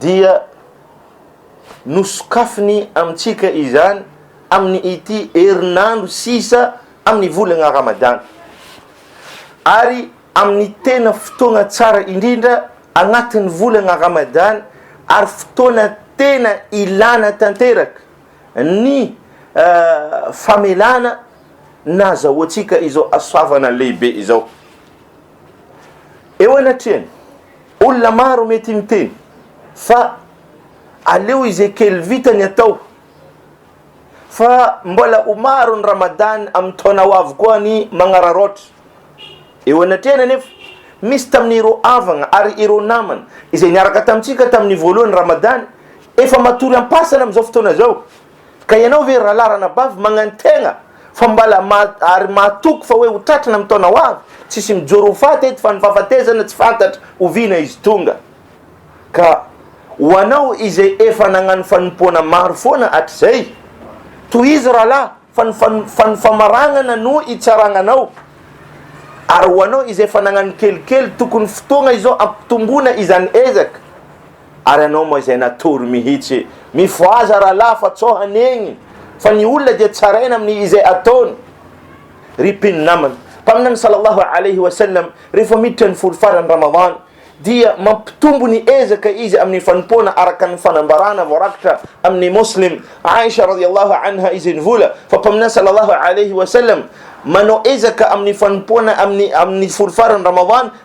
dia nosokafiny amintsika izany amin'ny ity herinandro sisa amin'ny volana Ramadany ary amin'ny tena fotoana tsara indrindra anatin'ny volana Ramadany ary fotoana tena ilana tanteraka ny famelana nazahoantsika izao hasoavana lehibe izao. Eo anatrehan'ny. Olona maro mety miteny fa aleo izay kely vita ny atao fa mbola ho maro ny Ramadan amin'ny taona ho avy koa ny magnararaotra. Eo anatrehany anefa, misy tamin'ireo havagna ary ireo namana izay niaraka tamintsika tamin'ny voalohan'ny Ramadan efa matory am-pasana amin'izao fotoana izao. Ka ianao ve rahalahy ranabavy magnantegna fa mbala ary mahatoky fa hoe ho tratrina amin'ny taona ho avy? Tsisy mijoro ho faty eto fa ny fahafatesana tsy fantatra oviana izy tonga. Ka ho anao izay efa nagnano fanompoana maro foana hatrizay, tohizo rahalahy fa ny fa ny famaragnana no itsaragnanao. Ary ho anao izay efa nagnano kelikely tokony fotoagna izao ampitomboina izany ezaka. Ary anao moa izay natory mihitsy. Mifohaza rahalahy fa tsao hanegny fa ny olona dia tsaraina amin'ny izay ataony. Ry mpino namana, Mpaminany sallallahu alayhi wa sallam rehefa miditra ny folo faran'ny Ramadan dia mampitombo ny ezaka izy amin'ny fanompoana araka ny fanambarana voarakitra amin'ny Muslim, Aisha radiyallahu anha izay nivola fa Mpaminany sallallahu alayhi wa sallam manao ezaka amin'ny fanompoana amin'ny amin'ny folo faran'ny Ramadan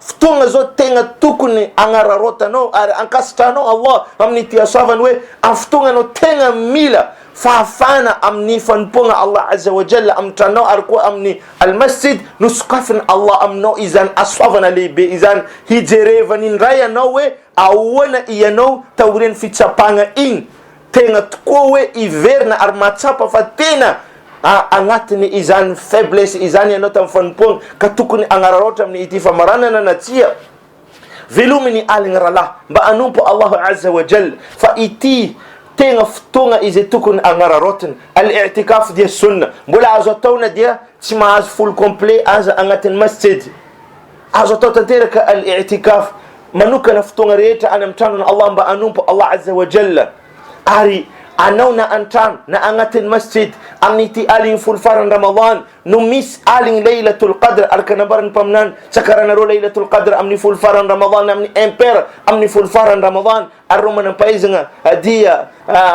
Fotoana izao tegna tokony agnararaotanao ary ankasitrahanao Allah amin'ity hasoavany hoe amin'ny fotoagna anao tegna mila fahafahana amin'ny fanompoagna Allah Azza wa Jalla amin'ny tranonao ary koa amin'ny Al-Masjid no sokafin'i Allah aminao izany hasoavana lehibe izany hijerevany indray anao hoe ahoana ianao taorian'ny fitsapagna igny Tena tokoa hoe hiverina ary mahatsapa fa tena anatin' izany faiblesse izany ianao tamin'ny fanompoana ka tokony hanararaotra amin' ity famaranana na tsia. Velomy ny aligny rahalahy mba hanompo Allah Azza wa Jalla fa ity tena fotoagna izay tokony hanararaotiny. Al-I'tikaf dia Sunna mbola azo atao na dia tsy mahazo folo complet aza agnatin'ny masjid. Azo atao tanteraka al-i'tikaf manokana fotoagna rehetra any amin'ny tranon' Allah mba hanompo Allah azza wa jalla ary anao na an-trano na agnatin'ny masjid amin'ity aligny folo faran'ny Ramadany no misy aligny laylatul qadr araka nambaran'ny Mpaminany tsakaranareo laylatul qadr amin'ny folo faran'ny Ramadany amin'ny impair amin'ny folo faran'ny Ramadany Ary ireo manam-pahaizagna dia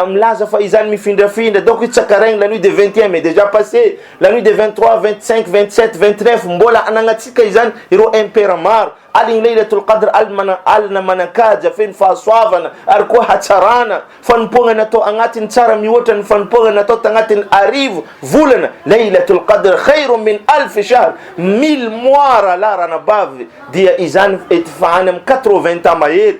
milaza fa izany mifindrafindra, donc io tsaka regny la nuit de vingt et un mai déjà passé, la nuit de vingt trois, vingt cinq, vingt sept, vingt neuf, mbôla anagnatsika izany ireo impera maro, aligny Laylatul Qadr, alina, alina manan-kaja feno fahasoavana ary koa hatsarana, fanompoagna natao agnatin'ny tsara mihoatra ny fanompoagna natao tagnatin'ny arivo volana, Laylatul Qadr khairun min alf shahr, mille mois rahalahy ranabavy, dia izany ety fa any amin'ny quatre vingt ans mahery,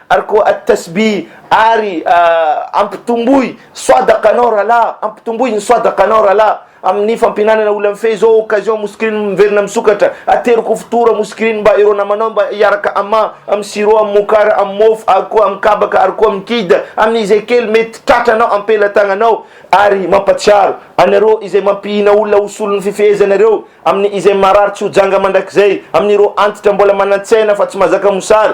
Ary koa At-Tasbih, ary ampitomboy Swadaqanao rahalahy, ampitomboy ny Swadaqanao rahalahy, amin'ny fampihinanana olona mifehy izao occasion Muskiriny miverina misokatra, atero koa fitohora Muskiriny mba ireo namanao mba hiaraka Amma, amin'ny sirop, amin'ny mokar, amin'ny mofo, ary koa amin'ny kabaka, ary koa amin'ny kid, amin'ny izay kely mety tratranao am-pelatagnanao, ary mampatsiaro anareo izay mampihina olona ho solon'ny fifehezanareo, amin'ny izay marary tsy ho janga mandrakizay, amin'ireo antitra mbola manan-tsaina fa tsy mahazaka mosary,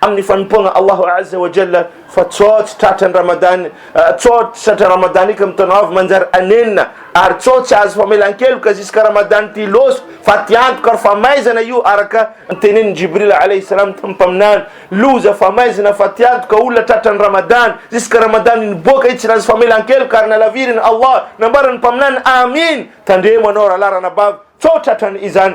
amin'ny fanompoagna Allahu Azza wa Jalla fa tsotsy tratra ny Ramadany tsotsy tratra Ramadany ka mitona avy manjary anenina ary tsotsy azo famelan-keloka ziska Ramadany ty loso fa ty antoka ary famaizana io araka tenenin'i Jibril alayhi salam tamin'ny mpaminany loza famaizana fa ty antoka olona tratra ny Ramadany ziska Ramadany niboaka i tsy nazo famelan-keloka ary nalavirin'i Allah nambaran'ny mpaminany amin tandremo anao rahalahy ranabavy tso tratra ny izany